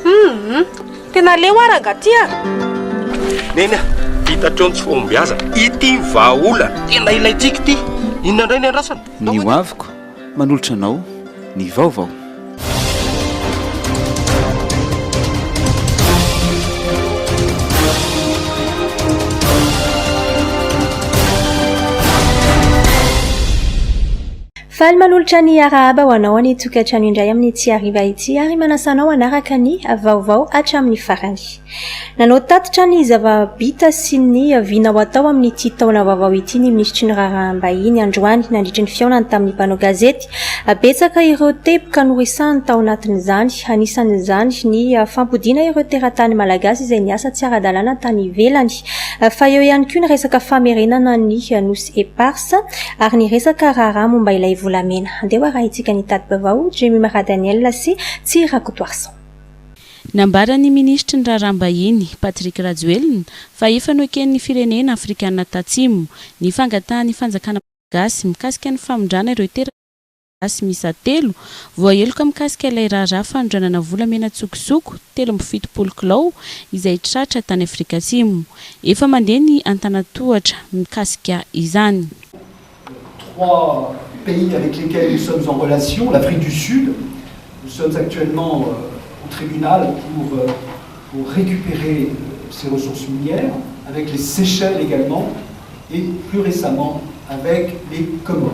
Humm! Tena leo ah rangah ty ah! Neny ah! Hita hatreo ny tsy fahombiazana. Ity ny vahaolana tena ilaintsika ity. Inona indray ny andrasana? Ny hoaviko manolotra anao ny vaovao. Faly manolotra ny arahaba ho anao ny tokantrano indray amin'ity hariva ity ary manasa anao hanaraka ny vaovao hatramin'ny farany. Nanao tatitra ny zava-bita sy ny vina ho atao amin'ity taona vaovao ity ny minisitry ny Raharaham-bahiny androany nandritry ny fihaonany tamin'ny mpanao gazety. Betsaka ireo teboka noresahany tao anatin'izany, anisan'izany ny fampodiana ireo teratany malagasy izay niasa tsy ara-dalàna tany ivelany fa eo ihany koa ny resaka famerenana ny Nosy Eparses. Asa, ary niresaka raharaha momba ilay volamena. Andeha ho arahintsika ny tati-baovao, Jimmy Maradaniel sy Tsia Rakotoarison. Nambaran'ny minisitry ny Raharaham-bahiny, Patrick Rajoelina, fa efa noeken'ny firenena afrikanina tatsimo ny fangatahan'ny fanjakana malagasy mikasika ny famindràna ireo teratany. Malagasy miisa telo voaheloka mikasika ilay raharaha fanondranana volamena an-tsokosoko telo amby fitopolo kilao izay tratra tany Afrika Atsimo. Efa mandeha ny antanantohatra mikasika izany. Trois pays avec lesquels nous sommes en relation, l'Afrique du Sud, nous sommes actuellement au tribunal pour pour récupérer ses ressources minières, avec les Seychelles également et plus récemment avec les Comores.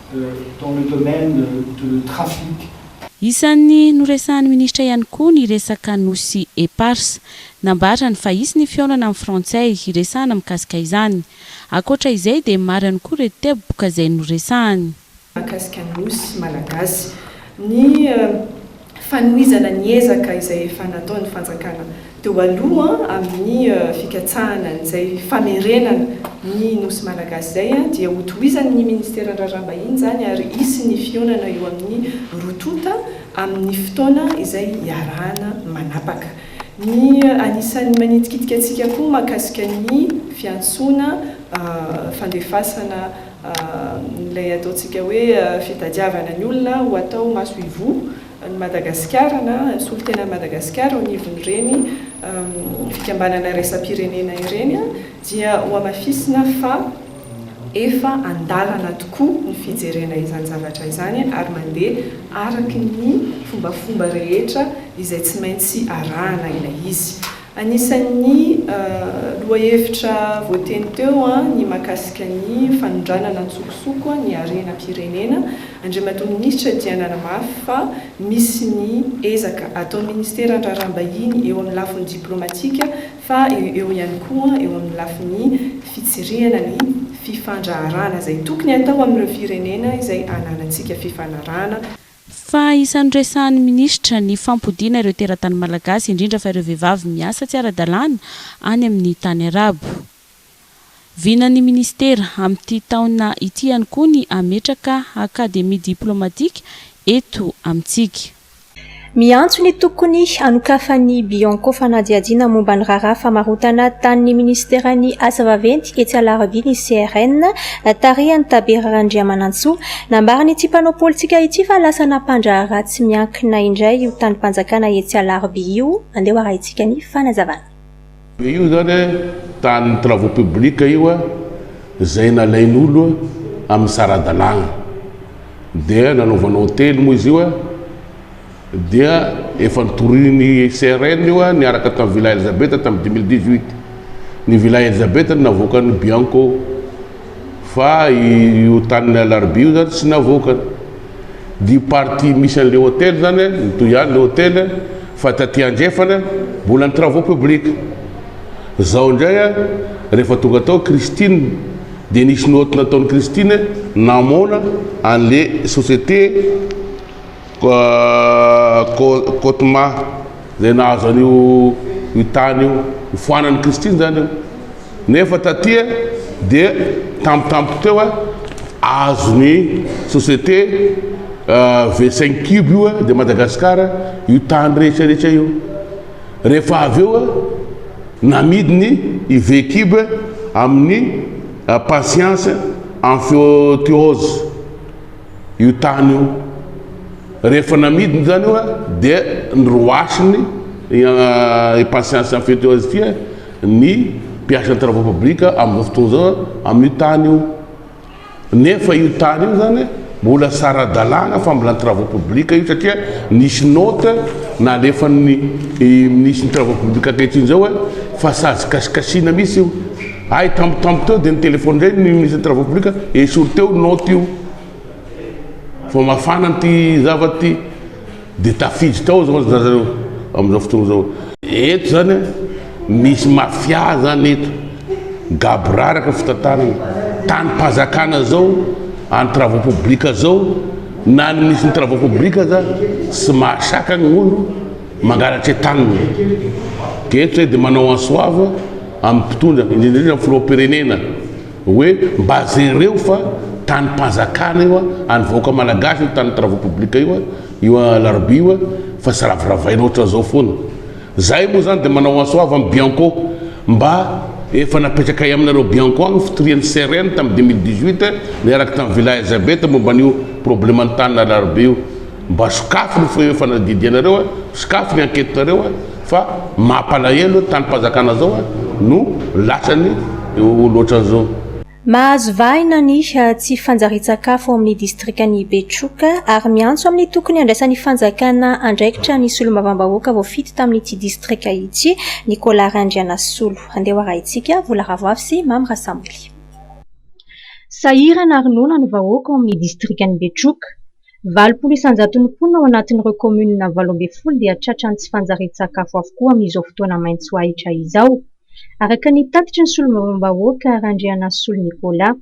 dans le domaine de trafic. Isan'ny noresahan'ny minisitra ihany koa ny resaka nosy eparses. Nambarany fa hisy ny fihaonana amin'ny frantsay hiresahana mikasika izany. Ankoatra izay dia maro ihany koa ireo teboka izay noresahany. Mahakasika ny nosy malagasy. Ny fanohizana ny ezaka izay efa nataon'ny fanjakana teo aloha amin'ny fikatsahana an'izay famerenana ny Nosy Malagasy izay dia hotohizan'ny Ministeran'ny Raharaham-bahiny izany ary hisy ny fihaonana eo amin'ny roa tonta amin'ny fotoana izay hiarahana manapaka ny anisan'ny manitikitika antsika koa mahakasika ny fiantsoana fandefasana Ilay ataontsika hoe fitadiavana ny olona ho atao maso ivoho ny Madagasikara na solontenan'i Madagasikara eo anivon'ireny fikambanana iraisam-pirenena ireny dia hohamafisina fa efa an-dalana tokoa ny fijerena izany zavatra izany ary mandeha araka ny fombafomba rehetra izay tsy maintsy arahana ilay izy. Anisan'ny lohahevitra voateny teo ny mahakasika ny fanondranana an-tsokosoko ny harenam-pirenena. Andriamatoa Minisitra dia nanamafy fa misy ny ezaka ataon'ny Ministeran'ny Raharaham-bahiny eo amin'ny lafiny diplaomatika fa eo ihany koa eo amin'ny lafiny fitsirihana ny fifandraharahana izay tokony hatao amin'ireo firenena izay ananantsika fifanarahana Fa isan'ny resahan'ny minisitra ny fampodiana ireo teratany malagasy, indrindra fa ireo vehivavy miasa tsy ara-dalàna any amin'ny tany arabo. Vinan'ny minisitera amin'ity taona ity ihany koa ny hametraka akademia diplaomatika eto amintsika. Miantso ny tokony hanokafan'ny Bianco fanadihadiana momba ny raharaha famarotana tany ny minisiteran'ny Asa vaventy etsy Alarobia ny CRN, tarihan'i Tabera Randriamanantsoa, Nambaran'ity mpanao politika ity fa lasa nampandraharaha tsy miankina indray io tanim-panjakana etsy Alarobia io, andeho arahintsika ny fanazavana. Dia io izany an, tanin'ny travaux publics io an, izay nalain'olo amin'ny sara-dalàna. Dia nanaovana hotely moa izy io an, dia efa notorian'ny CRN io niaraka tamin'ny Villa Elizabeth tamin'ny 2018. Ny Villa Elizabeth no navoakan'ny Bianco fa io tanin'ny Alarobia io zany tsy navoakany. Dia io partie misy an'ilay hôtely zany mitohy ihany ilay hôtely fa taty andrefana mbola ny travaux publics. Zao indray rehefa tonga tao Christine dia nisy note nataon'i Christine namoana an'ilay société Cotma, izay nahazo an'io io tany io, nifoanan'i Christine izany io. Nefa taty dia tampotampoka teo azon'ny société V cinq cube io de Madagascar io tany rehetra rehetra io. Rehefa avy eo namidiny i V cube amin'ny Patience Amphiothiose. io tany io. Rehefa namidiny izany io dia niroasony impatience en fait azy ity ny mpiasa ny travaux publics amin'izao fotoana izao amin'io tany io. Nefa io tany io izany mbola tsy ara-dalàna fambolana travaux publics io satria nisy note nalefan'ny minisitry ny travaux publics ankehitriny izao fa sazy kasikasina mihitsy io. Hay tampotampo teo dia nitelefony indray ny ministre des travaux publics ka esory teo note io fa mafana ity zavatra ity dia tafiditra tao izao ry zareo amin'izao fotoana izao. Eto izany misy mafia izany eto, gaboraraka fitantanana, tanim-panjakana izao, an'ny travaux publics izao, na ny minisitry ny travaux publics aza tsy mahasakana ny olona mangalatra taniny. Dia eto izay dia manao en soave. amin'ny mpitondra, indrindra indrindra ny filoham-pirenena hoe mba jereo fa tanim-panjakana io, an'ny vahoaka malagasy io, tanin'ny travaux publics io, io alarobia io fa tsy raviravaina ohatran'izao foana. Izahay moa izany dia manao antso avo amin'ny Bianco mba efa napetrakay aminareo Bianco agny ny fitorian'ny CRN tamin'ny 2018 niaraka tamin'ny Villa Elizabeth momba an'io probleman'ny tany alarobia io. Mba sokafy ny feo fanadidianareo a, sokafy ny enquetenareo a, fa mampalahelo tanim-panjakana zao a no latsany eo loatran'zao. Mahazo vahana ny tsy fanjarian-tsakafo ao amin'ny distrikan'i Betroka ary miantso amin'ny tokony handraisan'ny fanjakana andraikitra ny solombavambahoaka voafidy tamin'ity distrika ity, Nicolas Randrianasolo. Andeha ho arahintsika, Vola Ravoavy sy Mamy Rasamily. Sahirana ary noana ny vahoaka ao amin'ny distrikan'i Betroka. Valopolo isan-jaton'ny mponina ao anatin'ireo kaominina valo ambin'ny folo dia tratran'ny tsy fanjarian-tsakafo avokoa amin'izao fotoana maitso ahitra izao, araka ny tatitry ny solombavambahoaka Randrianasolo Nicolas.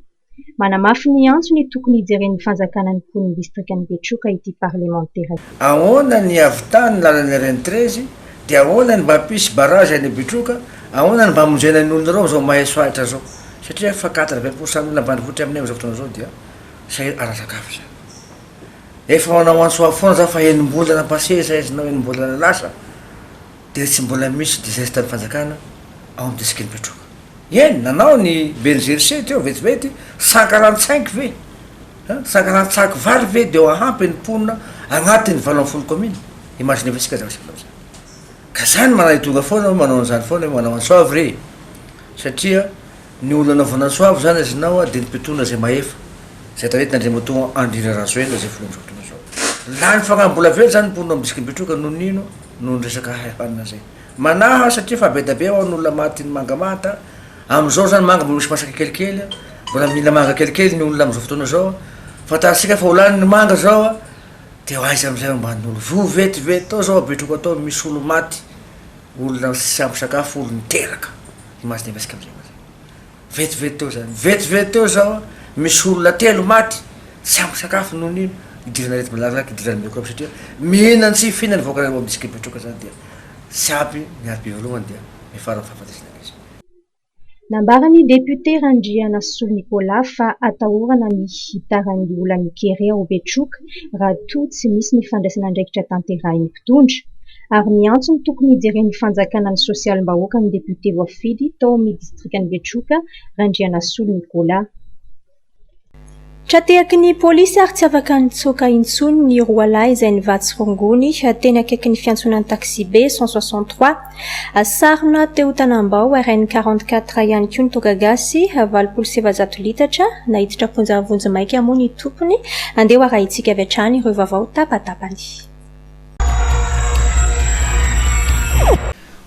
Manamafy ny antony tokony hijeren'ny fanjakana ny mponin'ny distrikan'i Betroka ity parlemantera ity. Ahoana ny havitan ny lalan'ny rn treize, dia ahoana ny mba hampisy barrage any Betroka, ahoana ny mba hamonjena ny olona ireo amin'izao maitso ahitra izao, satria efa quatre vingt pour cent ny olona ambanivohitra aminay amin'izao fotoana izao dia. Sa ara-tsakafo izany? Efa manao antso avo foana za fa enim-bolana passé izay izy na enim-bolana lasa dia tsy mbola misy digestan'ny fanjakana ao amin'ny distrikan'i Betroka. Eny, nanao ny ben'ny GRC teo vetivety, sankaran-tsainky ve, hein, sankaran-tsaky vary ve dia hahampy ny mponina agnatin'ny valo ambin'ny folo kaomina? Imaginez-vous isika zavatra vita amin'izany. Ka za ny manaidoga foana hoe manao an'izany foana hoe manao antso avo re, satria Ny olona anaovana soava izany azy inao a dia ny mpitondra izay mahefa, izay taritin' Andriamatoa Andry Rarajoelina izay filoha amin'izao fotoana izao. Lany fagnahy mbola avela izany ny mponina ao Ambisikampitroka noho ny ino? noho ny resaka haihanina izay. Manahy aho satria efa be dia be ao ny olona maty ny manga manta, amin'izao izany manga mbola misy masaka kelikely a, mbola mila manga kelikely ny olona amin'izao fotoana izao a, fantatsika fa ho lany ny manga izao a, dia aiza amin'izay ambanin'olo. Voa vetivety tao izao Betroka tao misy olo maty, olona tsy ampy sakafo, olo niteraka. Image dia miresaka amin'izay mantsy. Vetivety teo izay, vetivety teo izao, misy olona telo maty, tsy ampy sakafo noho ny idiran'ny aretim-belaran'aky idiran'ny microbe satria mihinana tsy fihinana ny vahoakan'ireo mbola tsy kepetroka izany dia tsy ampy ny alarobia voalohany dia miafara amin'ny fahafatesana ilay izy. Nambaran'ny député Randrianasolo Nicolas fa atahorana ny hitaran'ny olan'ny kere ao Betroka raha toa tsy misy ny fandraisana andraikitra tanterahin'ny mpitondra. ary miantso ny tokony hijeren'ny fanjakana ny sosialim-bahoaka ny depiote voafidy tao amin'ny distrikan'i Betroka, Randrianasolo Nicolas. Tra-tehaky ny polisy ary tsy afaka nitsoaka intsony ny roa lahy izay nivatsy rongony teny akaikin'ny fiantsonan'ny taxi-be cent soixante trois. Sarona teo Tanambao RN quarante quatre ihany koa ny toaka gasy valopolo sy efajato litatra naiditra am-ponja vonjimaika moa ny tompony. Andeha ho arahintsika avy hatrany ireo vaovao tapatapany.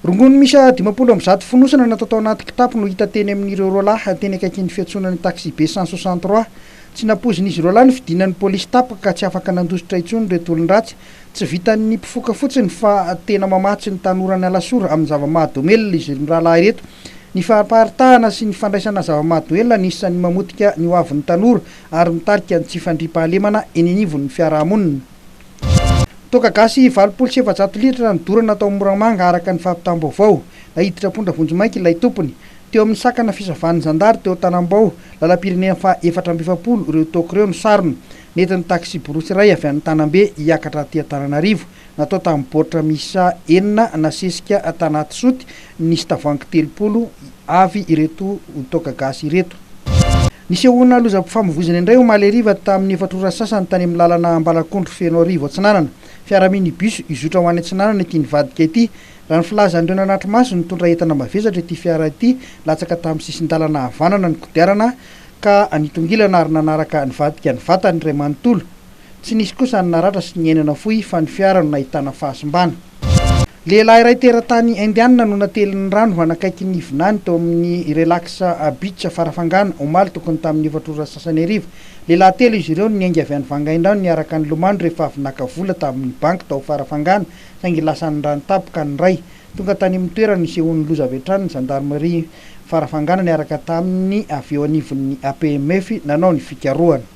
Rongony miisa dimampolo amby zato fonosana natao tao anaty kitapo no hita teny amin'ireo roa lahy teny akaikin'ny fiantsonan'ny taxi-be cent soixante trois. Tsy nampoizin'izy roa lahy ny fidinan'ny polisy tapaka ka tsy afaka nandositra intsony ireto olon-dratsy. Tsy vitan'ny mpifoka fotsiny fa tena mamatsy ny tanoran'i Alasora amin'ny zava-mahadomelina izy mirahalahy ireto. Ny fampaharitahana sy ny fandraisana zava-mahadoelina no isan'ny mamotika ny hoavin'ny tanora ary mitarika ny tsy fandriampahalemana eny anivon'ny fiarahamonina. Toaka gasy valopolo sy efajato litatra no dorana tao Moramanga araka ny fampitam-baovao. Naiditra am-pondra vonjimaika ilay tompony. Teo amin'ny sakana fisavan'ny zandary teo Tanambao, lalam-pirenena faha efatra amby efapolo ireo toaka ireo no sarona. Nentin'ny taksiborosy iray avy any Tanambe hiakatra aty Antananarivo. Natao tamin'ny baoritra miisa enina nasesika tanaty soty nisy tavoahangy telopolo avy ireto toaka gasy ireto. Nisehoana lozam-pifamoivoizana indray omaly hariva tamin'ny efatra ora sasany tany amin'ny lalana Ambalakondro Fenoarivo Atsinanana. Fiara minibus hizotra ho any Atsinanana ity nivadika ity. Raha ny filazan'ireo nanatri-maso, nitondra entana mavesatra ity fiara ity, latsaka tamin'ny sisin-dalana havanana ny kodiarana ka nitongilana ary nanaraka nivadika ny vatany iray manontolo. Tsy nisy kosa ny naratra sy niaina nafoy fa ny fiara no nahitana fahasimbana. Lehilahy iray teratany Indiana no natelin'ny rano hanakaiky ny vinany tao amin'ny Relax Beach Farafangana, omaly tokony tamin'ny efatra ora sasany hariva. Lehilahy telo izy ireo no niainga avy any Vangaindrano niaraka nilomano rehefa avy naka vola tamin'ny banky tao Farafangana saingy lasan'ny rano tapoka ny iray. Tonga tany amin'ny toerana nisehoan'ny loza avy hatrany ny zandarimaria Farafangana niaraka tamin'ny avy eo anivon'ny APMF nanao ny fikarohana.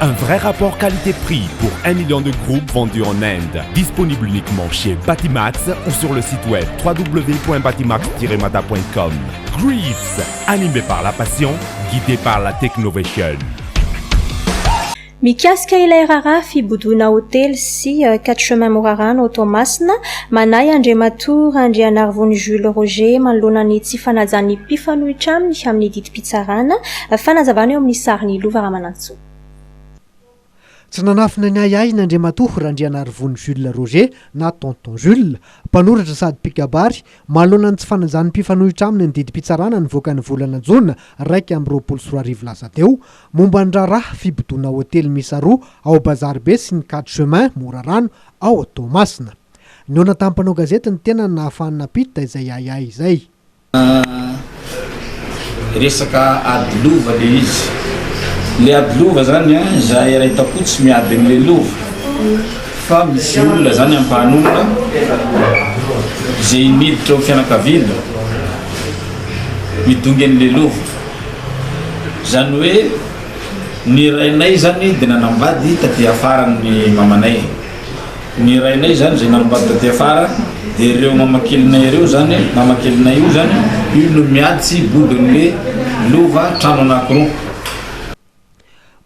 Un vrai rapport qualité prix pour un million de groupes vendus en Inde. Disponible uniquement chez Batimax ou sur le site web www.batimax-mada.com. Greets, animé par la passion, guidé par la technovation. Mikasika ilay raharaha fibodoana hotely sy quatre chemins Morarano ao Toamasina, manahy Andriamatoa Randrianarivony Jules Roger manoloana ny tsy fanajan'ny mpifanohitra aminy amin'ny didim-pitondrana. Fitsarana. Fanazavana eo amin'ny sarin'i Lova Ramanantsoa. Tsy nanafina ny ahiahiny Andriamatoa Randrianarivony Jules Roger na Tonton Jules, mpanoratra sady mpikabary, manoloana ny tsy fanajan'ny mpifanohitra aminy ny didim-pitsarana nivoaka ny volana jona iraika amby roapolo sy roa arivo lasa teo, momba ny raharaha fibodoana hotely miisa roa ao Bazaribe sy ny Quatre Chemins, Morarano, ao Toamasina. Nihaona tamin'ny mpanao gazety ny tenany nahafahany nampiditra izay ahiahy izay. Resaka ady lova le izy. Le ady lova zany an, zahay ray takoa tsy miady an'le lova fa misy olona zany ampahany olona ze miditra ao fianakaviana midongy an'le lova. Zany hoe ny rainay zany de nanambady taty afara ny mamanay. Ny rainay zany zay namombany taty afara de ireo mamakelinay ireo zany mamakelinay io zany io no miady tsy bodonle lova trano anakiroa.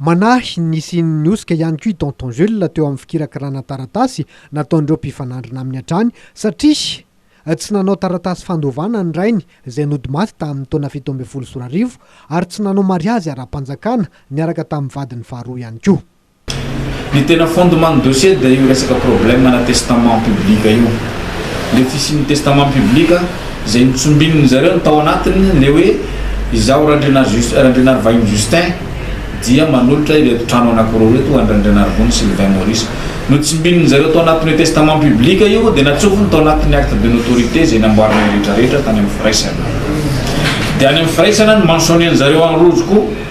Manahy ny hisian'ny hosoka ihany koa i Tonton Jules teo amin'ny fikirakirana taratasy nataon'ireo mpifanandrina aminy hatrany satria tsy nanao taratasy fandovana ny rainy izay nody maty tamin'ny taona fito ambin'ny folo sy roa arivo ary tsy nanao mariazy ara-panjakana niaraka tamin'ny vadiny faharoa ihany koa. Ny tena fondement ny dossier dia io resaka problème ana testament public io. Le fisian'ny testament public izay notsombininy zareo ny tao anatiny le hoe izaho Randrianarivahiny Justin dia manolotra ireto trano anakiroa ireto ho an-dRandrianarivony Sylvain Maurice. Notsimbininy zareo tao anatin'io testament public io dia natsofony tao anatin'ny acte de notoriété izay namboarinay rehetra rehetra tany amin'ny firaisana. Dia any amin'ny firaisana no mentionner-ny zareo any rojo koa.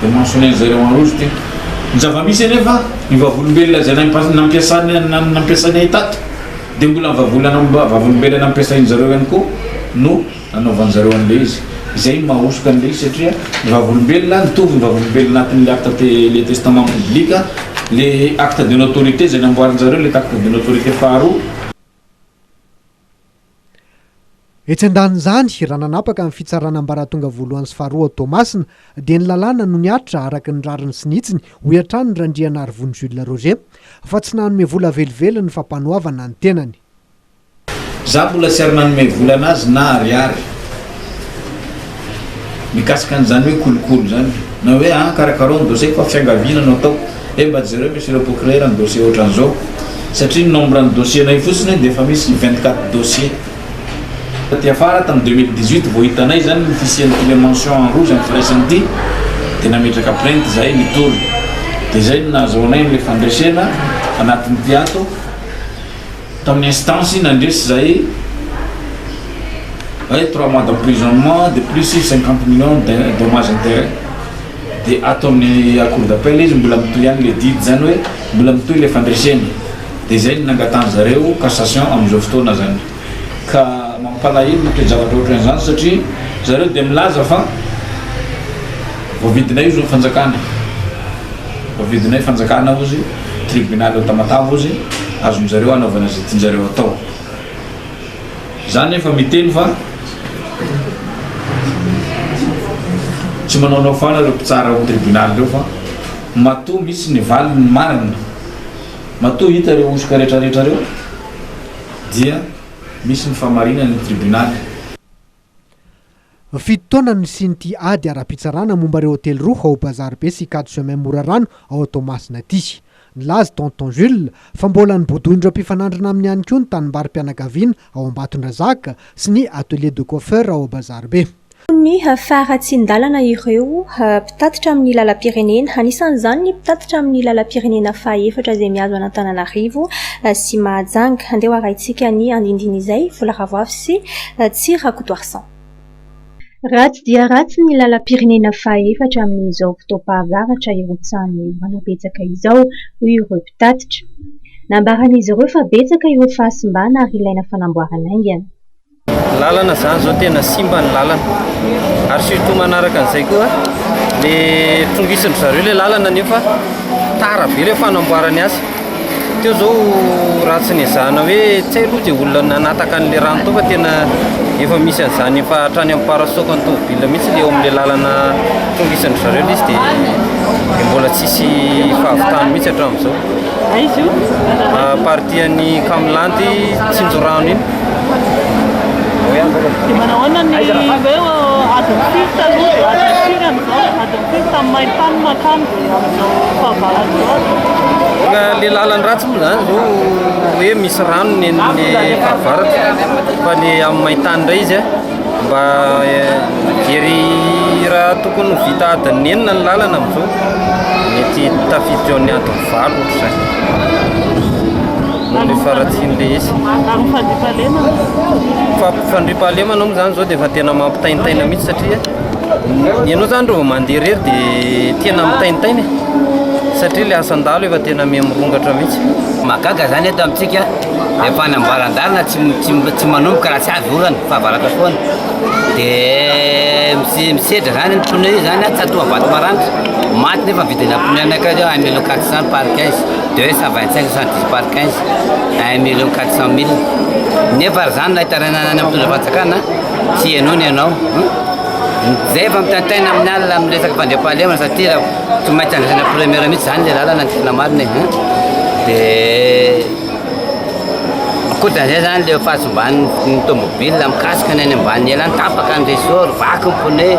Dia mahasonain'i zareo Anroso ty. Ny zava-misy anefa, io vavolombelona izay nampiasany nampiasainy ahy tato, dia mbola ny vavolana vavolombelona nampiasain'i zareo ihany koa no nanaovan'i zareo an'ilay izy. Izay no mahahosoka an'ilay izy satria ny vavolombelona, mitovy ny vavolombelona anatin'ilay acte te ilay testament biblique, ilay acte de notoriété izay namboarin'i zareo, ilay acte de notoriété faharoa, Etsy andanin'izany, raha nanapaka ny fitsarana ambaratonga voalohany sy faharoa ao Toamasina, dia ny lalàna no nihatra araka ny rariny sy ny hitsiny, hoy hatrany Randrianarivony Jules Roger, fa tsy nanome vola velively ny Fampanoavana ny tenany. Za mbola tsy ary nanome vola anazy na ariary. mikasika an'izany hoe kolikoly izany na hoe an karakarao ny dossier fa fiangaviana no ataoko eh mba jereo misy ireo procureur ny dossier ohatran'izao satria ny nombre ny dossier nay fotsiny dia efa misy vingt quatre dossier taty afara tamin'ny deux mille dix huit vao hitanay izany ny fisian'ity le mention en rouge amin'ny firaisana ity dia nametraka plainte izahay nitory dia izay no nahazoanay an'ilay fandresena anatin'ity ato Tamin'ny instance nandresy izay hoe trois mois d'emprisonnement de plus cinquante millions de dommages intérêts dia ato amin'ny cour d'appel izy mbola mitohy ihany ilay didy izany hoe mbola mitohy ilay fandresena dia izay no nangatahany zareo cassation amin'izao fotoana izany ka mampalahelo ny toe-javatra ohatran'izany satria zareo dia milaza fa voavidinay ozy ny fanjakana voavidinay fanjakana ozy tribonaly ao Tamatave ozy azony zareo anaovana izay tianjareo atao za nefa miteny fa tsy manaonao fana ireo mpitsara ao tribonaly ireo fa matoa misy ny valiny marina matoa hita ireo hosoka retraretra reo dia misy ny famarinany ny tribonaly Fito taona no nisian'ity ady ara-pitsarana momba ireo hotely roa ao Bazaribe sy Quatre Chemins Morarano ao Toamasina ity. Nilaza i Tonton Jules fa mbola nobodoin'ireo mpifanandrina aminy ihany koa ny tanimbarim-pianakaviana ao Ambatondrazaka sy ny Atelier de Coiffeur ao Bazaribe. Tokony haharatsin-dalana ireo mpitatitra amin'ny lalam-pirenena, anisan'izany ny mpitatitra amin'ny lalam-pirenena fahaefatra izay mihazo an'Antananarivo sy Mahajanga. Andeha ho arahintsika ny andindiny izay, Vola Ravoafy sy Tsy Rakotoarison. Vincent. Ratsy dia ratsy ny lalam-pirenena fahaefatra amin'izao fotoam-pahavaratra irotsahan'ny orana betsaka izao, hoy ireo mpitatitra. Nambaran'izy ireo fa betsaka ireo fahasimbana ary ilaina fanamboarana haingana. Ny lalana izany izao tena simba ny lalana ary surtout manaraka an'izay koa ilay trongison'dry zareo ilay lalana nefa tara be ilay fanamboarany azy. Teo izao raha tsy nezahana hoe tsy hay aloha izay olona nanataka an'ilay rano teo fa tena efa misy an'izany efa hatrany amin'ny parasoakan'ny tomobilina mihitsy ilay eo amin'ilay lalana tonga isan-dry zareo ilay izy dia dia mbola tsy hisy fahavitany mihitsy hatramin'izao. Aiza io? Partie an'i Kamilandy Tsinjorano iny. Dia manao ahoana ny hoe adin'ny fito taloha dia adin'ny firy amin'izao? Adin'ny fito tamin'ny main-tany mankany. le lalan ratsy moa zany zao hoe misy rano ny ny favaratra fa ny amin'ny maintany indray izy a mba jery raha tokony ho vita adin'ny enina ny lalana amin'izao mety tafiditra eo amin'ny adin'ny valo ohatra izany ny faharatsian'ilay izy fampifandriam-pahalemana moa zany izao dia efa tena mampitaintaina mihitsy satria Ianao izany raha vao mandeha irery dia tena mitaintaina e! satria ilay asan-dahalo efa tena miha mirongatra mihitsy. Mahagaga izany eto amintsika rehefa any am-balan-dalana tsy tsy tsy manomboka raha tsy avy orana, fahavaratra foana. Dia mis- misedra izany ny pneu izany an, tsatoha vato maranitra, maty nefa vidina pneu anakay izao un million quatre cent par quinze, deux cent vingt cinq cent dix par quinze, un million quatre cent mille. Nefa raha izany na hitarainana any amin'ny mpitondra fanjakana an. Tsy henoina ianao. Zay efa mitaintaina amin'ny alina amin'ny resaka fandriampahalemana satria tsy maintsy andraisana premier mihitsy zany le lalana ny tena marina e. De ankoatran'izay zany le fahasimban'ny tomobile mikasika ny any ambany ela any tapaka ny ressort, vaky ny pneu.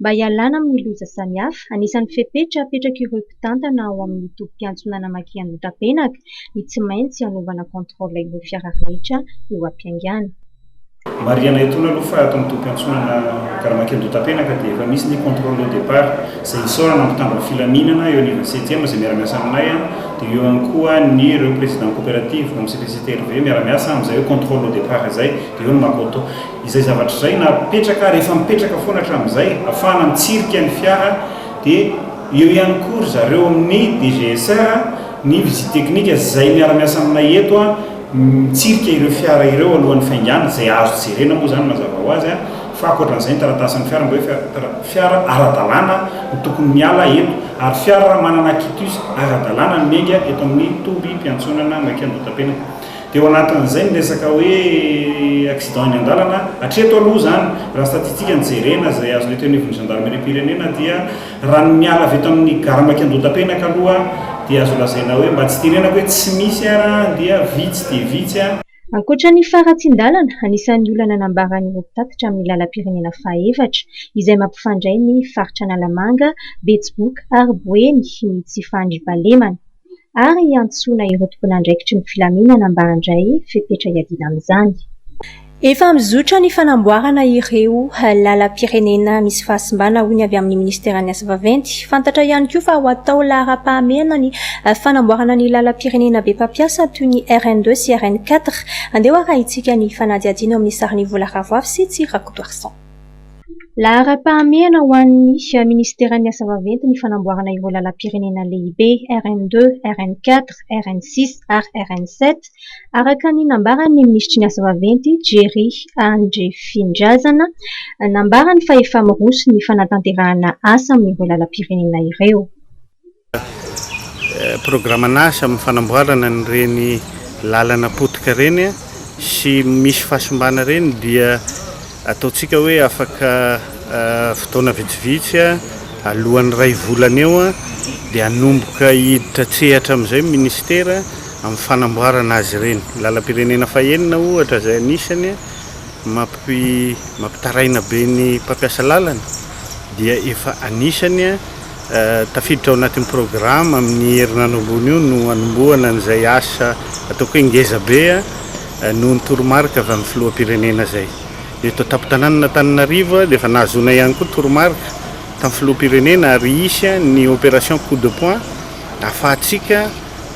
Mba hialana amin'ny loza samihafa, anisan'ny fepetra apetrak'ireo mpitantana ao amin'ny tobim-piantsonana Makiandotapenaka ny tsy maintsy hanaovana contrôle ireo fiara rehetra eo am-piaingana. Marihana etoana aloha fa ato amin'ny tobim-piantsonana Gare Makiandotapenaka dia efa misy ny contrôle au départ izay isaorana ny mpitandro ny filaminana eo anivon'ny septième izay miara-miasa aminay dia eo ihany koa ny ireo président coopérative, MCPCTRV, miara-miasa amin'izay hoe contrôle au départ izay dia eo ny Makoto. Izay zavatra izay napetraka ary efa mipetraka foana hatramin'izay hahafahana mitsirika ny fiara dia eo ihany koa ry zareo amin'ny DGSR ny visite technique izay miara-miasa aminay eto mitsirika ireo fiara ireo alohan'ny faingàna izay azo jerena moa izany mazava ho azy fa ankoatran'izay ny taratasin'ny fiara mba hoe fiara ara-dalàna no tokony miala eto ary fiara manana quitus ara-dalàna no miainga eto amin'ny tobim-piantsonana Maikandotapena Teo anatin'izay ny resaka hoe accident eny an-dalana, hatreto aloha izany, raha statistika no jerena izay azonay teo anivon'ny Zandarimeriam-pirenena dia raha ny miala avy eto amin'ny gare Maikandoha-Tapenaka aloha dia azo lazaina hoe mba tsy tenenako hoe tsy misy ara dia vitsy dia vitsy. Ankoatra ny faharatsian-dalana, anisan'ny olana nambaran'ireo mpitatitra amin'ny lalam-pirenena fahaefatra izay mampifandray ny faritra Analamanga, Betsiboka ary Boeny ny tsy fandriam-pahalemana. ary hiantsoana ireo tompon'andraikitry ny filaminana mba handray fepetra hiadiana amin'izany. Efa mizotra ny fanamboarana ireo lalam-pirenena misy fahasimbana, hoy ny avy amin'ny minisiteran'ny Asa vaventy. Fantatra ihany koa fa ho atao laharam-pahamehana ny fanamboarana ny lalam-pirenena be mpampiasa toy ny RN deux sy RN quatre. Andeha ho arahitsika ny fanadihadiana ao amin'ny sarin'i Vola Ravoafy sy Tsirakotoarison. Laharam-pahamehana ho an'ny minisiteran'ny Asa vaventy ny fanamboarana ireo lalam-pirenena lehibe RN 2, RN 4, RN 6 ary RN 7, araka ny nambaran'ny minisitry ny Asa vaventy, Jerry Andriafindrazana. Nambarany fa efa miroso ny fanatanterahana asa amin'ireo lalam-pirenena ireo. Programan'asa amin'ny fanamboarana an'ireny lalana potika ireny sy misy fahasimbana ireny dia ataontsika hoe afaka fotoana vitsivitsy alohan'ny iray volana eo dia hanomboka hiditra an-tsehatra amin'izay ny Minisitera amin'ny fanamboarana azy ireny. Lalam-pirenena fahenina ohatra izay anisany mampitaraina be ny mpampiasa lalana dia efa anisany Tafiditra ao anatin'ny programa amin'ny herinandro ambony io no hanombohana an'izay asa ataoko hoe ngeza be noho ny toromarika avy amin'ny filoham-pirenena izay. Eto an-tampon-tanànan'Antananarivo dia efa nahazoana ihany koa toromarika tamin'ny filoham-pirenena ary hisy ny opération coup de poing ahafahantsika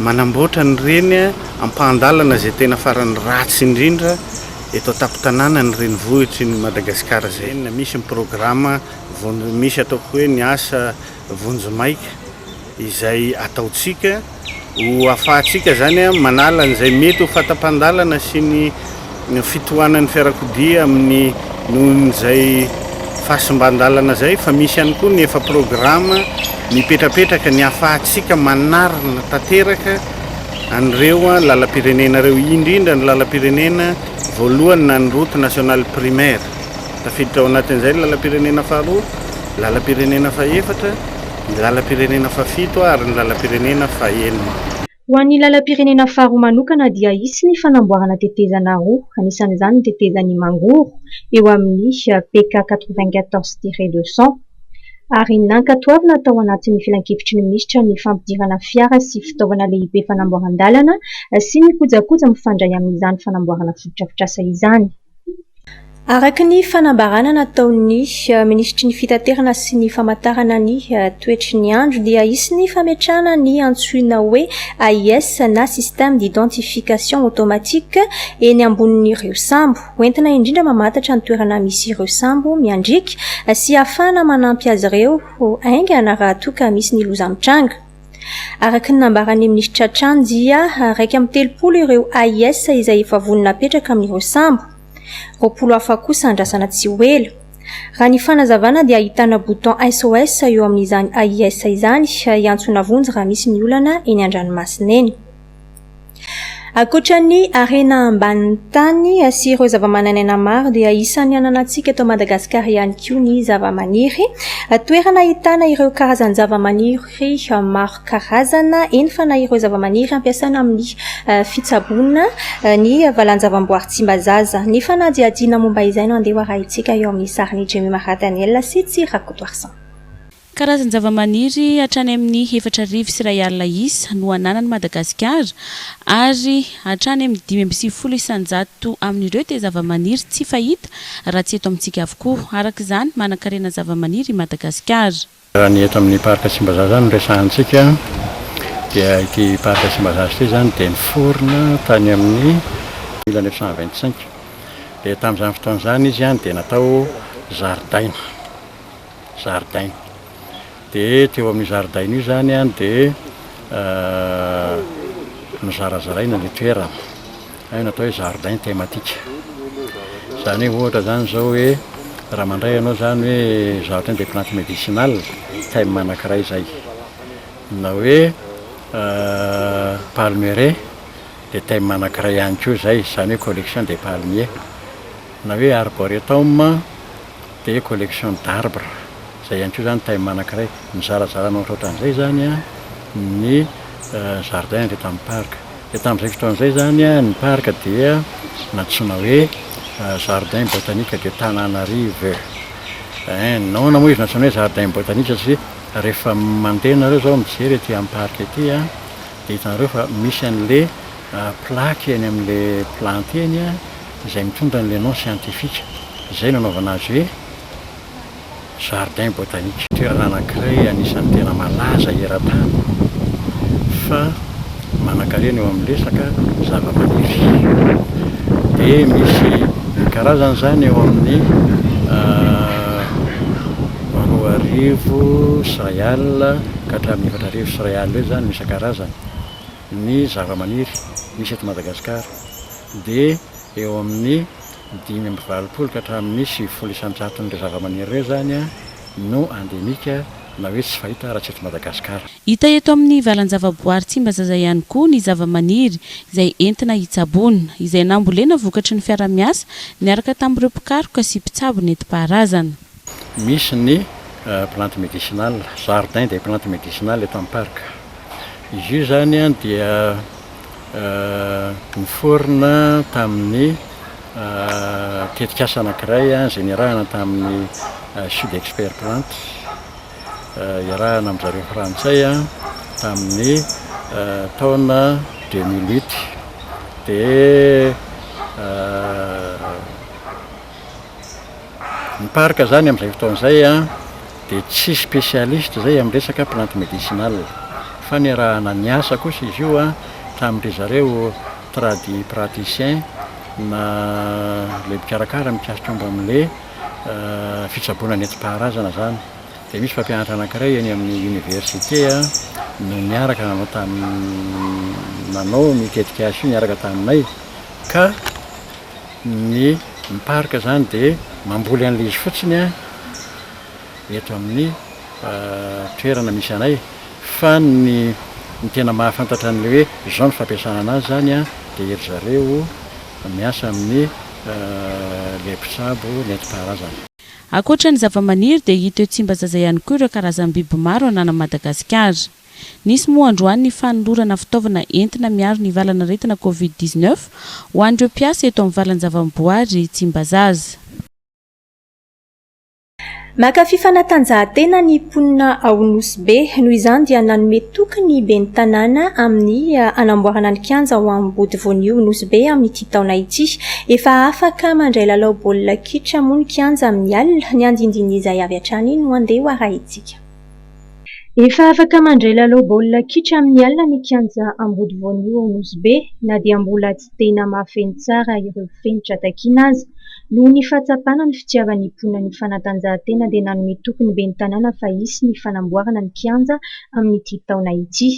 manamboatra an'ireny ampahan-dalana izay tena farany ratsy indrindra eto an-tampon-tanànan'ny renivohitry ny Madagasikara izay. Misy ny programa Vonjy, Misy ataoko hoe ny asa vonjimaika izay ataontsika ho afahantsika izany manala an'izay mety ho fahatapahan-dalana sy ny fitohanan'ny fiarakodia amin'ny nohon'izay fahasimban-dalana izay fa misy ihany koa ny efa programa mipetrapetraka ny afahantsika manarina tanteraka an'ireo lalam-pirenena ireo indrindra ny lalam-pirenena voalohany na ny route nationale primaire. Tafiditra ao anatin'izay ny lalam-pirenena faharoa, ny lalam-pirenena fahefatra, ny lalam-pirenena fahafito ary ny lalam-pirenena fahenina. Ho an'ny lalam-pirenena faharoa manokana dia hisy ny fanamboarana tetezana roa, anisan'izany ny tetezan'i Mangoro eo amin'ny PK quatre-vingt-quatorze tiret deux cent, ary nankatoavina tao anatin'ny filankevitry ny minisitra ny fampidirana fiara sy fitaovana lehibe fanamboaran-dalana sy ny kojakoja mifandray amin'izany fanamboarana fotodrafitrasa izany. Araka ny fanambarana nataon'ny minisitry ny fitaterana sy ny famantarana ny toetry ny andro dia hisy ny fametrahana ny antsoina hoe AIS na système d'identification automatique eny ambonin'ireo sambo, hoentina indrindra mamantatra ny toerana misy ireo sambo miandriaka sy ahafahana manampy azy ireo haingana raha toa ka misy ny loza mitranga. Araka ny nambaran'ny minisitra Chan dia iraika amby telopolo ireo AIS izay efa vonona hapetraka amin'ireo sambo, roapolo hafa kosa andrasana tsy ho ela. Raha ny fanazavana dia ahitana bouton SOS eo amin'izany AIS izany hiantsona vonjy raha misy ny olana eny an-dranomasina eny. Ankoatra ny harena ambanin'ny tany sy ireo zavamananaina maro dia isan'ny ananantsika eto Madagasikara ihany koa ny zavamaniry. Toerana ahitana ireo karazan-javamaniry maro karazana, eny fa na ireo zavamaniry ampiasaina amin'ny fitsaboana ny valan-javamboary Tsimbazaza. Ny fanadihadiana momba izay no andeha ho arahintsika eo amin'ny sarin'i Jemima Radaniel sy Tsy Rakotoarison. Karazan-javamaniry hatrany amin'ny efatra arivo sy iray alina isa no ananan'i Madagasikara ary hatrany amin'ny dimy amby sivifolo isan-jato amin'ireo dia zavamaniry tsy fahita raha tsy eto amintsika avokoa. Araka izany, manan-karena zavamaniry i Madagasikara. Raha ny eto amin'ny Parc Tsimbazaza izany no resahantsika dia ity Parc Tsimbazaza ity izany dia niforona tany amin'ny mille neuf cent vingt cinq dia tamin'izany fotoana izany izy dia natao zaridaina. zaridaina dia teo amin'io zaridaina io zany an dia nozarazaraina ny toerana hay natao hoe jardin thématique zany hoe ohatra zany zao hoe raha mandray ianao zany hoe jardin des plantes médicinales thème anankiray zay na hoe palmeraie dia thème anankiray ihany koa zay zany hoe collection des palmiers na hoe arboretum dia collection d'arbres, izay ihany koa izany thème anankiray. Nizarazara an'ilay ohatrohatran'izay izany ny jardin avy eto amin'ny parc. Dia tamin'izay fotoana izay izany ny parc dia nantsoina hoe jardin botanique de Tananarive. Ein, nahoana moa izy nantsoina hoe jardin botanique satria rehefa mandeha ianareo izao mijery ety amin'ny parc ety dia hitanareo fa misy an'ilay plaque eny amin'ilay plantes eny, izay mitondra ny le nom scientifique izay nanaovana azy hoe jardin botanique. Toerana anankiray anisan'ny tena malaza eran-tany fa manankarena eo amin'ny resaka zavamaniry. Dia misy karazany izany eo amin'ny roa arivo sy iray alina ka hatramin'ny efatra arivo sy iray alina eo izany no isan-karazany ny zavamaniry misy eto Madagasikara. dia eo amin'ny dimy amby valopolo ka hatramin'ny sivifolo isan-jaton'ireo zavamaniry ireo izany no andemika na hoe tsy fahita raha tsy eto Madagasikara. Hita eto amin'ny valan-javaboary Tsimbazaza ihany koa ny zavamaniry izay entina hitsaboana, izay nambolena vokatry ny fiara-miasa niaraka tamin'ireo mpikaroka sy mpitsabo nentim-paharazana. Misy ny plantes médicinales, jardin des plantes médicinales eto amin'ny parc. Izy io izany dia niforona tamin'ny tetikasa anankiray izay niarahana tamin'ny Sudexpertplantes, iarahana amin-dry zareo frantsay tamin'ny taona deux mille huit. Ny parc zany amin'izay fotoana izay dia tsy spécialiste izay amin'ny resaka plante médicinale fa niarahana niasa kosa izy io tamin-dry zareo tradipraticiens na ilay mpikarakara mikasika momba amin'ilay fitsaboana nentim-paharazana izany. Dia misy mpampianatra anankiray eny amin'ny université no niaraka nanao tamin'ny nanao ny tetikasa io niaraka taminay ka ny mpark zany de mamboly an'le izy fotsiny an eto amin'ny toerana misy anay fa ny ny tena mahafantatra an'le hoe zao ny fampiasana anazy zany an de ery zareo miasa amin'ny le mpitsabo nentim-paharazana. Ankoatra ny zavamaniry dia hita eo Tsimbazaza ihany koa ireo karazam-biby maro ananan'i Madagasikara. Nisy moa androany ny fanolorana fitaovana entina miaro ny valan'aretina covid dix-neuf ho an'ireo mpiasa eto amin'ny valan-javaboary Tsimbazaza. Mankafy fanatanjahantena ny mponina ao Nosy Be, noho izany dia nanome toky ny ben'ny tanàna amin'ny hanamboarana ny kianja ao Ambody Vonio Nosy Be amin'ity taona ity. Efa afaka mandray lalao baolina kitra moa ny kianja amin'ny alina, ny andindin'izay avy hatrany no andeha ho arahintsika. Efa afaka mandray lalao baolina kitra amin'ny alina ny kianja Ambody Voanio ao Nosy Be na dia mbola tsy dia namafeno tsara ireo fenitra takiana aza. Noho ny fahatsapana ny fitiavan'ny mponina ny fanatanjahantena dia nanome toky ny ben'ny tanàna fa hisy ny fanamboarana ny kianja amin'ity taona ity.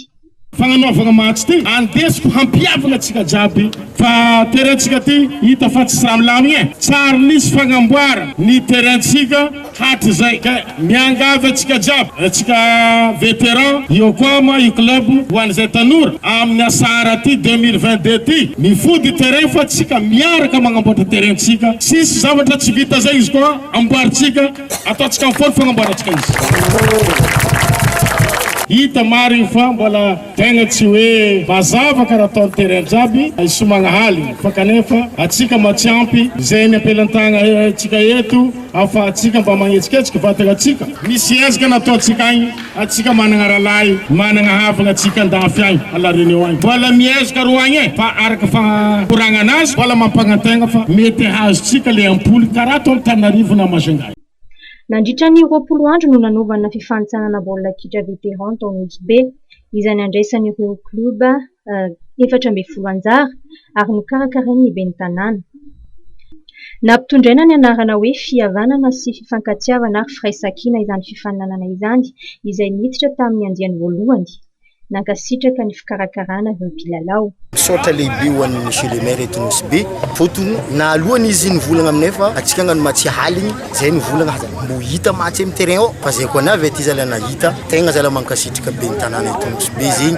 Fagnanaovagna match ty andesiko hampiavagna tsika jiaby fa terrain tsika ty hita fa tsy milamigny e! Tsary nisy fagnamboara ny terrain tsika hatrizay ka miangavy antsika jiaby tsika veteran eo koa moa io club ho an'izay tanora amin'ny asara ty deux mille vingt deux ty mifody terrain fa tsika miaraka magnamboatra terrain tsika tsisy zavatra tsy vita zay izy koa amboarintsika Ataontsika amin'ny fony fagnamboarantsika izy. Hita maro io fa mbola tegna tsy hoe mazava karaha ataon'ny terrain jiaby i Somagnahaly fa kanefa antsika mba tsy ampy izay eny am-pelantagna tsika eto afahantsika mba magnetsiketsika vatagna tsika. Misy ezaka nataontsika agny Atsika managna ralahy managna havagna atsika andafy agny à la Réunion agny mbola mihezaka ro agny e fa araka fagnamporagna anazy mbola mampagnantegna fa mety hahazo tsika le ampoly karaha ataony Tanarivo na Majunga. Nandritra ny roapolo andro no nanaovana fifanintsanana baolina kitra vétéran tao Nosy Be, izay nandraisan'ireo klioba efatra ambin'ny folo anjara ary nokarakarain' ny ben'ny Tanàna. Nampitondraina ny anarana hoe Fihavanana sy Fifankatiavana ary Firaisankina izany fifaninanana izany izay niditra tamin' ny andiany voalohany. Nankasitraka ny fikarakarana ireo mpilalao. Misaotra lehibe ho an'i Monsieur le Maire eto Nosy Be fotony na alohan' izy nivolagna aminay fa antsika angano ma tsy haligny zay nivolagna aza mbô hita ma tsy amy terrain ao fa zay koa navy aty zala nahita tegna zala mankasitraka ben'ny Tanàna eto Nosy Be zegny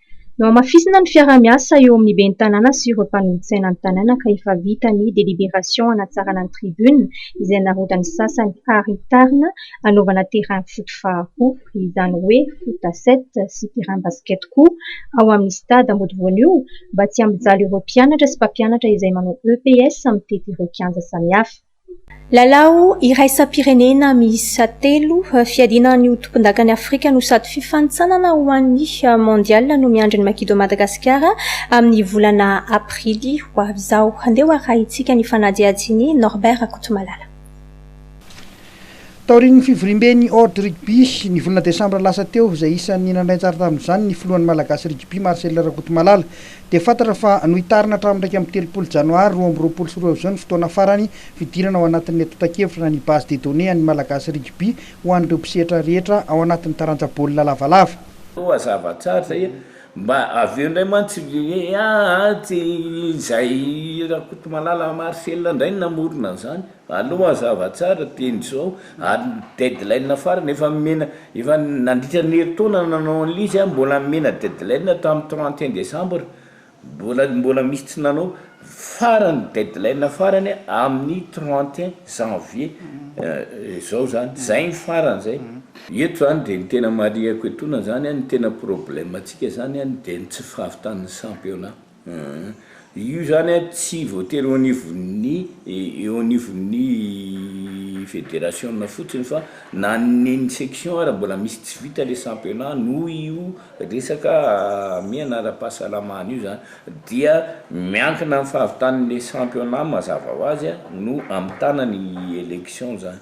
Nohamafisina ny fiaraha-miasa eo amin'ny ben'ny tanàna sy ireo mpanolotsaina ny tanàna ka efa vita ny deliberation hanatsarana ny tribune izay narodan'ny sasany ary hitarina hanaovana terrain foot faharoa, izany hoe foot à sept sy terrain basket koa ao amin'ny stade mody voanio mba tsy hampijaly ireo mpianatra sy mpampianatra izay manao EPS mitety ireo kianja samihafa. Lalao iraisam-pirenena miisa telo fiadiana ny ho tompondakan'i Afrika no sady fifanintsanana ho an'ny Mondial no miandry ny Makido Madagasikara amin'ny volana aprily ho avy izao. Handeha ho arahintsika ny fanadihadian'i Norbert Rakotomalala. Taorian'ny fivoriamben'ny Ord Rugby ny volana desambra lasa teo, izay isan'ny nandray anjara tamin'izany ny filohan'ny Malagasy Rugby Marcel Rakotomalala, dia fantatra fa nohitarina hatramin'ny iraika amby telopolo janoary roa amby roapolo sy roa izao ny fotoana farany fidirana ao anatin'ny antontan-kevitra na ny Base de données an'ny Malagasy Rugby ho an'ireo mpisehatra rehetra ao anatin'ny taranja baolina lavalava. Toa zava-tsarotra hoe mba avy eo indray mantsy hoe aah tsy izay Rakotomalala Marcel indray no namorona an'izany. Aloha mazava tsara teny zao ary ny deadline farany efa nomena efa nandritra ny herintaona nanao an'ilay izy a mbola nomena deadline tamin'ny trente et un décembre mbola mbola misy tsy nanao farany deadline farany amin'ny trente et un janvier zao zany zay ny farany zay. Eto zany dia ny tena marihiko etoana zany a ny tena problème antsika zany a dia ny tsy fahavitan'ny championnat. Aah, io zany a tsy voatery eo anivon'ny eo anivon'ny federasiona fotsiny fa na ny ny section ary mbola misy tsy vita le championnat noho io resaka hamehana ara-pahasalamana io zany dia miankina amin'ny fahavitan'le championnat mazava ho azy a no hamitana ny élection zany.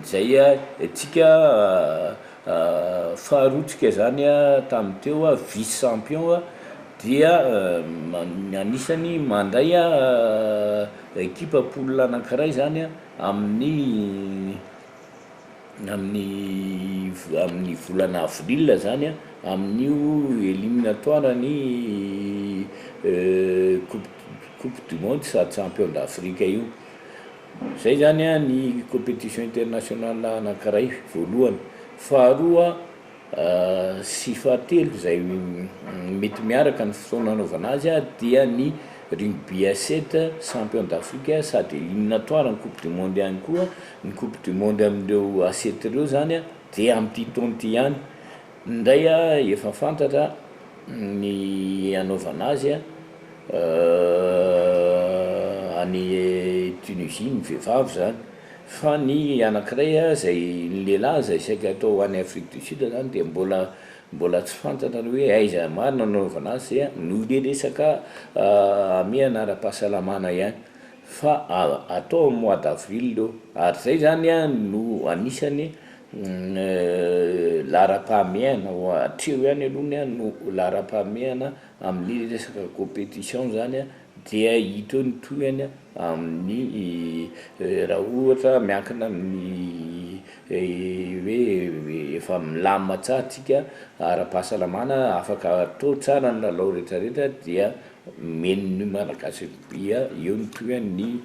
Izay tsika faharoa tsika zany tamin'ny teo vice champion dia anisany mandray ekipa poule anankiray zany amin'ny amin'ny amin'ny volana avril zany amin'io eliminatoire ny coupe coupe du monde sady champion d'Afrique io. Izay izany ny competition international anankiray voalohany. Faharoa sy fahatelo izay mety miaraka ny fotoana anaovana azy dia ny rugby à sept champion d'Afrique sady eliminatoire ny coupe du monde ihany koa, ny coupe du monde amin'ireo à sept ireo izany dia amin'ity taona ity ihany. Indray a efa fantatra ny hanaovana azy a any Tunisie ny vehivavy zany fa ny anakiray a zay ny lehilahy zay saika atao any Afrique du Sud zany dia mbola mbola tsy fantatra ny hoe aiza marina no anaovana azy dia noho le resaka hamehana ara-pahasalamana ihany fa atao amin'ny mois d'avril eo ary zay zany a no anisany Ny laharam-pahamehana, hatreo ihany aloha ny ahy no laharam-pahamehana amin'ny resaka competition zany dia hita eo ny tohiny amin'ny raha ohatra miankina amin'ny hoe efa milamina tsara tsika ara-pahasalamana afaka atao tsara ny lalao rehetra rehetra dia omeny ny malagasy eo ny tohiny.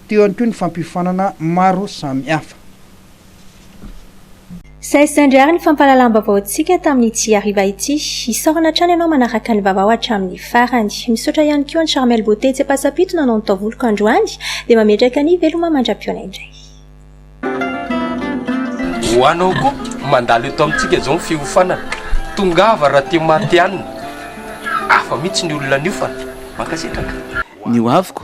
Teo ihany koa ny fampiofanana maro samihafa. Saisaindry àry ny fampahalalam-baovaontsika tamin'ny ity hariva ity. Isaorana hatrany ianao manaraka ny vaovao hatramin'ny farany. Misaotra ihany koa an'i Charmel Beauté Tsepasapito nanao ny taovoloko androany, dia mametraka ny veloma mandra-pihaona indray. Ho anao koa mandalo eto amintsika izao ny fiofanana, tongava raha te-matihanina. Hafa mihitsy ny olona niofana. Mankasitraka. Ny hoaviko